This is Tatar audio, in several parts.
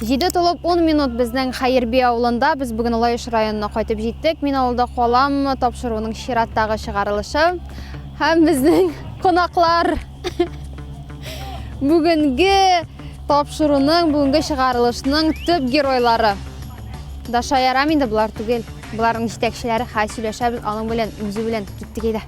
Җиде тулып 10 минут безнең Хәерби авылында. Без бүген Лаеш районына кайтып җиттек. Мин авылда калам тапшыруның чираттагы чыгарылышы. Һәм безнең кунаклар бүгенге тапшыруның, бүгенге чыгарылышның төп геройлары. Даша ярам инде булар түгел. Буларның җитәкчеләре хәл сөйләшәбез аның белән, үзе белән киттек иде.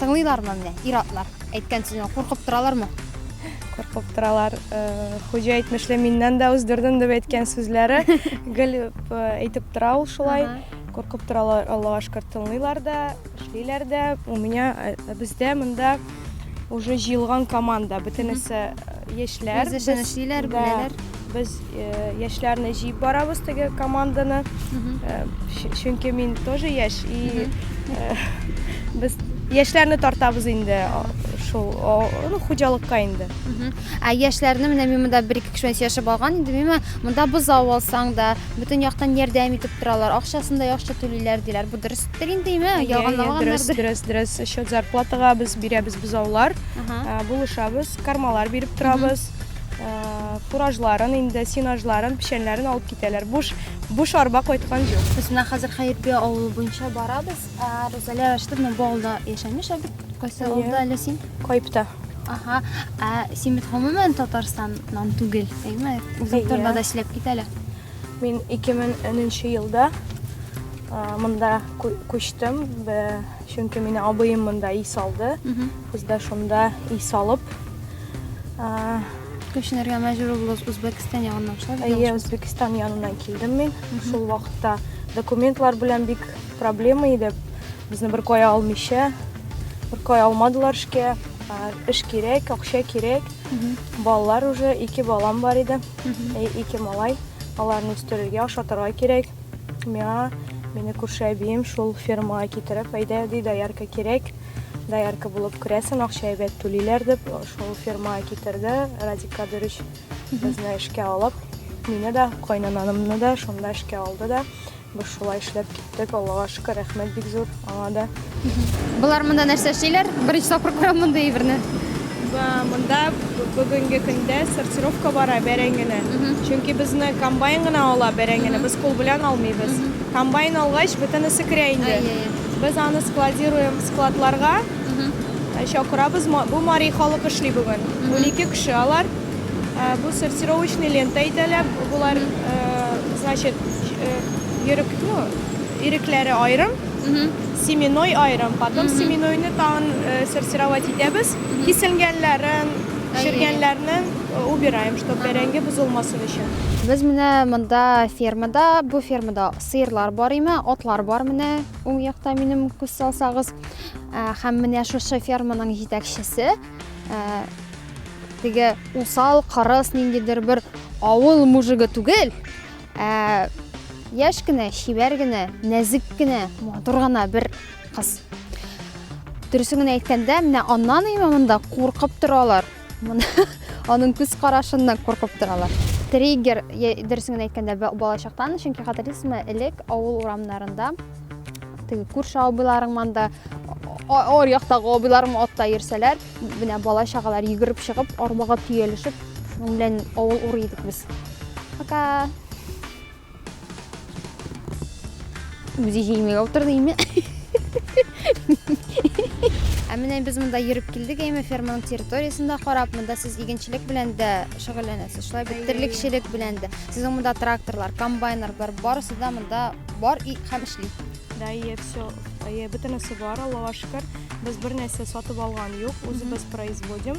Тыңлыйлармы менә ир-атлар? Әйткән сүзен куркып торалармы? Куркып торалар. Э, Хуҗа әйтмешли, миннән дә үздердем дип әйткән сүзләре гел э, әйтеп тора ул шулай. Куркып торалар, Аллага шөкер, тыңлыйлар да, эшлиләр дә. У меня э, бездә монда уже җыелган команда, бөтенесе Яшьләр. Үз эшен эшлиләр, беләләр. Без яшьләрне җыеп барабыз теге команданы. Чөнки мин тоже яшь и без яшьләрне тартабыз инде шул ну хуҗалыкка инде. Ә яшьләрне менә мин монда бер ике кеше яшәп алган инде, миңа монда бозау алсаң да, бөтен яктан ярдәм итеп торалар, акчасын да яхшы түлиләр диләр. Бу дөрестер инде, име? Ялганламагандыр. Дөрес, дөрес, дөрес. Счет зарплатага без бирәбез бозаулар, булышабыз. Кармалар биреп торабыз. Фуражларын инде, сенажларын, печәннәрен алып китәләр. Буш, буш арба кайткан юк. Без менә хәзер Хәербия авылы буенча барабыз. Рузалия Рәшитовна бу авылда яшәмеш, ә бит кайсы авылда әле син? Кайыпта. Ага. Ә син бит гомумән Татарстаннан түгел, әйме? Үзең турында да сөйләп кит әле. Мин 2010 елда монда күчтем. Чөнки мине абыем монда ий салды. Без дә шунда ий салып күченергә мәҗбүр булдык Үзбәкстан ягыннан шулай. Әйе, Үзбәкстан яныннан килдем мин. Шул вакытта документлар белән бик проблема иде. Безне бер кая алмыйча, бер кая алмадылар эшкә. Эш кирәк, акча кирәк. Балалар уже ике балам бар иде. Ике малай. Аларны үстерергә, ашатырга кирәк. Миңа мине күрше әбием шул фермага китереп, әйдә, ди, доярка кирәк, доярка булып керәсен, акча әйбәт түлиләр дип, шул фермага китерде Радик Кадырович безне эшкә алып. Мине дә, кайнананымны да шунда эшкә алды да, без шулай эшләп киттек, Аллага шөкер, рәхмәт бик зур. Аңа да. Болар монда нәрсә эшлиләр? Беренче тапкыр күрәм мондый әйберне. Монда бүгенге көндә сортировка бара бәрәңгене. Чөнки безне комбайн гына ала бәрәңгене, без кул белән алмыйбыз. Комбайн алгач, бөтенесе керә инде. Без аны складируем складларга, чакырабыз. Бу мари халык эшли бүген. Унике кеше алар. Бу сортировочный лента әйтәләр. Болар, значит, йөрек, ну, Ирекләре аерым, семенной аерым, потом семенойны тагын сортировать итәбез, киселгәннәрен, чергәннәрнен убираем, чтоб бәрәңге бозылмасын өчен. Без менә монда фермада, бу фермада сыерлар бар име, атлар бар менә уң якта минем күз салсагыз. Һәм менә шушы ферманың җитәкчесе теге усал, кырыс ниндидер бер авыл мужигы түгел, Ә яшь кенә, чибәр генә, нәзек кенә, матур гына бер кыз. Дөресен генә әйткәндә, менә аннан имә монда куркып торалар. Аның күз карашыннан куркып торалар. Триггер, дөресен генә әйткәндә, балачактан, чөнки хатırlыйсызмы, элек авыл урамнарында теге күрше абыйларың монда ар яктагы абыйларым атта йөрсәләр, менә бала чагалар йөгереп чыгып, арбага төялешеп, шуның белән авыл урый идек без. Пока. Үзе җиңмәгә утырды име? Ә менә без монда йөреп килдек, әйме ферманың территориясендә карап, монда сез игенчелек белән дә шөгыльләнәсез, шулай бит терлекчелек белән дә. Сезнең монда тракторлар, комбайннар бар, барысы да монда бар и һәм эшли. Да, и все, и бөтенесе бар, Аллаһуга шөкер. Без бер нәрсә сатып алган юк, үзебез производим.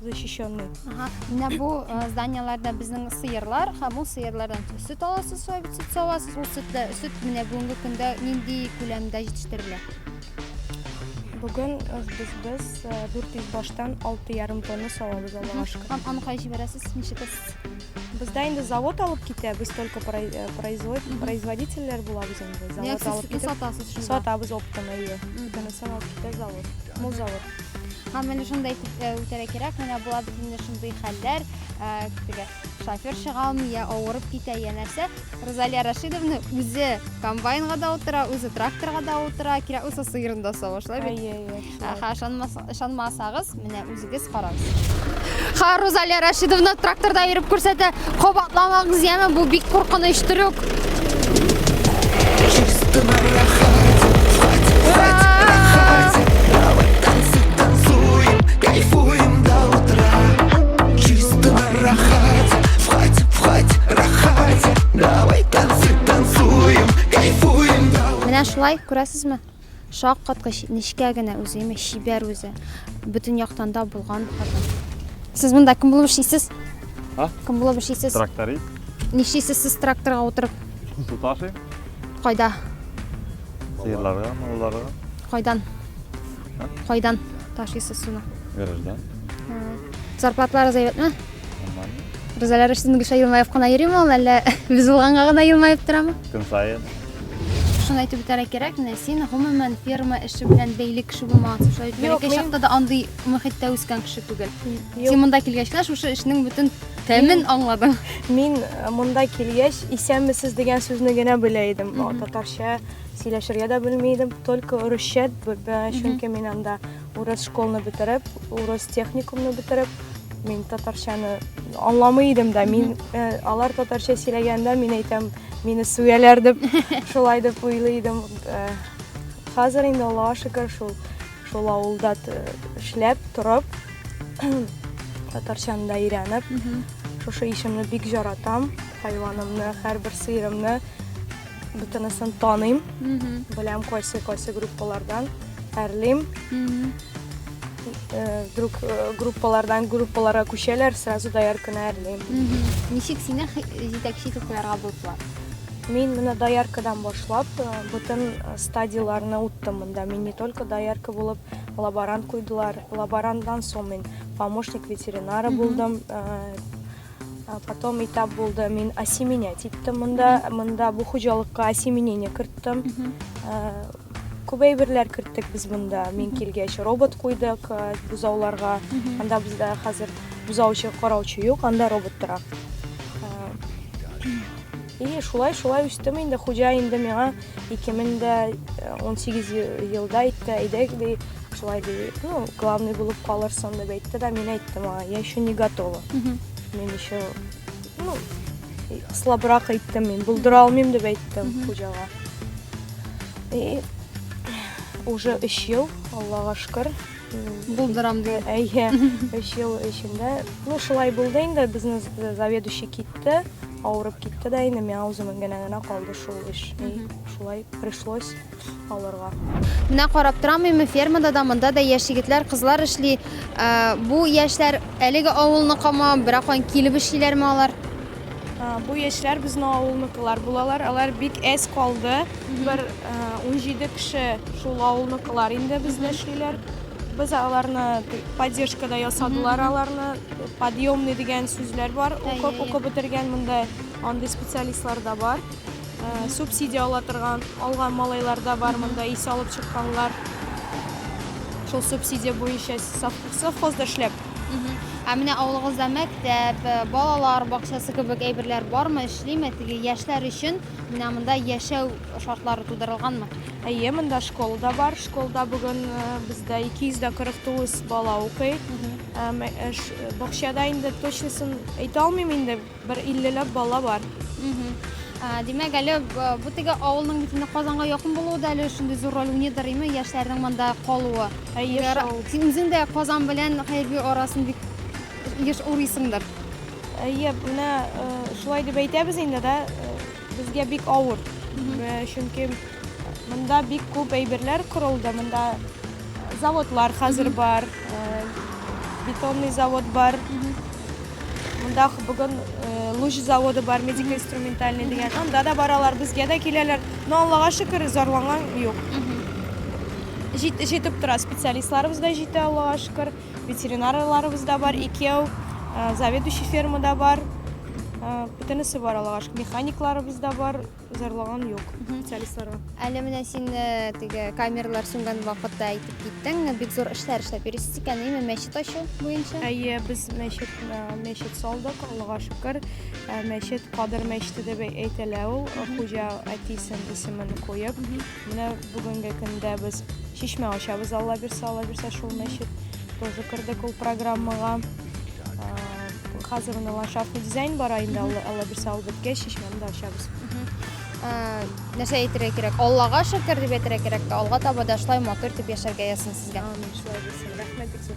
защищены. Ага. Менә бу э, зданиеләрдә безнең сыерлар һәм ул сыерлардан сөт аласыз, соя бит сөт аласыз. Ул сөт сөт менә бүгенге көндә нинди күләмдә җитештерелә? Бүген э, без без 400 э, баштан 6,5 тонна салабыз алашка. Һәм аны кай җибәрәсез? Ничек Бездә инде завод алып китә, без только производительләр булабыз инде. Завод алып китә. Сатасыз шунда. Сатабыз оптом, әйе. Бүтәнесен алып китә завод. Мул завод. Һәм менә шундай э, үтәрә кирәк, менә була безнең шундый хәлләр, э, теге шофер чыга алмый, я авырып китә, я нәрсә. Розалия Рашидовна үзе комбайнга да утыра, үзе тракторга да утыра, кирәк булса сыерын да савышлай бит. Әйе, әйе. Аха, ышанмасагыз, менә үзегез карагыз. Ха, Розалия Рашидовна тракторда йөреп күрсәтә. Кабатламагыз яме, бу бик куркыныч трюк. Менә шулай, күрәсезме? Шаккаткыч, нечкә генә үзе, имеш, чибәр үзе. Бөтен яктан да булган хатын. Сез монда кем булып эшлисез? А? Кем булып эшлисез? Тракторист. Нишлисез сез тракторга утырып? Су ташыйм. Кайда? Сыерларга, малларга. Кайдан? А? Кайдан ташыйсыз суны? Гараждан. Зарплатларыгыз әйбәтме? Нормально. Ризаләр өчен Гөлшә Елмаев кына йөрим ул, әллә без булганга гына елмаеп торамы? Көн саен. Шуны әйтеп үтәргә кирәк, менә син гомумән ферма эше белән бәйле кеше булмагансың. Шулай итеп, Юк, бәләкәй мин- чакта да андый мөхиттә үскән кеше түгел. Юк. Син монда килгәч кенә шушы эшнең бөтен тәмен аңладың. Мин э, монда килгәч, исәнмесез дигән сүзне генә белә идем. Мгм. Татарча сөйләшергә дә белми идем, только урысча, б- б- чөнки мин анда урыс школны бетереп, урыс техникумны бетереп, мин татарчаны аңламый идем дә. Мин э, алар татарча сөйләгәндә мин әйтәм, Мине сөяләр дип, шулай дип уйлый идем. Э, хәзер инде Аллаһка шөкер шул шул авылда эшләп, торып, татарчаны да өйрәнеп, шушы ишемне бик жаратам, хайванымны, һәрбер сыерымны бөтенесен таныйм, беләм кайсы-кайсы группалардан, әрлим. э, друг э, группалардан группаларга күчәләр, сразу да яркына әрлим. Ничек сине җитәкче итеп куярга булдылар? Мин менә дояркадан башлап, э, бүтән э, стадияләрне уттым монда. Мин не только доярка булып, лаборант куйдылар. Лаборантдан соң мин помощник ветеринара булдым. Э, потом этап булды, мин осеменять иттем монда. Монда бу хуҗалыкка осеменение керттем. Күп әйберләр керттек без монда. Мин килгәч робот куйдык э, бозауларга. Анда бездә хәзер бозаучы, караучы юк, анда робот тора. Э, И шулай шулай үстем инде. Хуҗа инде миңа 2018 е- елда әйтте, әйдәк ди, шулай ди, ну, главный булып калырсың дип әйтте дә, мин әйттем аңа, я еще не готова. Мин еще Ну, слабрак әйттем мин, булдыра алмыйм дип әйттем хуҗага. И уже 3 ел, Аллага шөкер. Булдырам дип. Әйе, 3 ел эчендә. Ну, шулай булды инде, безнең заведующий китте, авырып китте дә инде, миңа үземә генә генә калды шул эш. И шулай пришлось алырга. Менә карап торамыймы, фермада да, монда да яшь егетләр, кызлар эшли. Бу яшьләр әлеге авылныкымы, беракан килеп эшлиләрме алар? Бу яшьләр безнең авылныкылар булалар. Алар бик әз калды. Бер 17 кеше шул авылныкылар инде бездә эшлиләр. Без аларны поддержка да ясадылар аларны. Подъемный дигән сүзләр бар. Укып, укып бетергән монда андый специалистлар да бар. Субсидия ала торган, алган малайлар да бар монда, ис алып чыкканлар. Шул субсидия буенча совхозда эшләп. Ә менә авылыгызда мәктәп, э, балалар бакчасы кебек әйберләр бармы, эшлиме? Теге яшьләр өчен менә монда яшәү шартлары тудырылганмы? Әйе, монда школа да бар. Школда бүген э, бездә 249 бала укый. Э, бакчада инде точнысын әйтә алмыйм инде. Бер иллеләп бала бар. Димәк, әле бу теге авылның бит инде Казанга якын булуы да әле шундый зур роль уйныйдыр, әйме, яшьләрнең монда калуы. Әйе, Әгәр шул. Син үзең дә Казан белән Хәерби арасын бик еш урыйсыңдыр. Әйе, менә э, шулай дип әйтәбез инде, да. э, Безгә бик авыр, чөнки монда бик күп әйберләр корылды, монда заводлар хәзер бар, бетонный завод бар, монда бүген луч заводы бар, медико-инструментальный дигән, анда да баралар, безгә дә киләләр, но Аллага шөкер, зарланган юк. Җитеп тора, специалистларыбыз да җитә, Аллага шөкер. Ветеринарларыбыз да бар, икәү, заведующий ферма да бар. Бөтенесе бар Аллага шөкер. Механикларыбыз да бар, зарлыган юк специалистларга. Әле менә син теге камерлар сүнгән вакытта әйтеп киттең, бик зур эшләр эшләп йөрисез икән, әйме, мәчет ачу буенча? Әйе, без мәчет, мәчет салдык, Аллага шөкер. Мәчет Кадыр мәчете дип әйтелә ул, хуҗа әтисен исемен куеп. Менә бүгенге көндә без чишмә ачабыз алла бирсә, алла бирсә шул мәчет тоже кердек ул программага. Хәзер менә ландшафтный дизайн бара инде алла, алла бирсә ул беткәч чишмәне дә ачабыз. Нәрсә әйтергә кирәк? Аллага шөкер дип әйтергә кирәк тә, алга таба да шулай матур итеп яшәргә язсын сезгә. Амин, шулай булсын. Рәхмәт бик зур.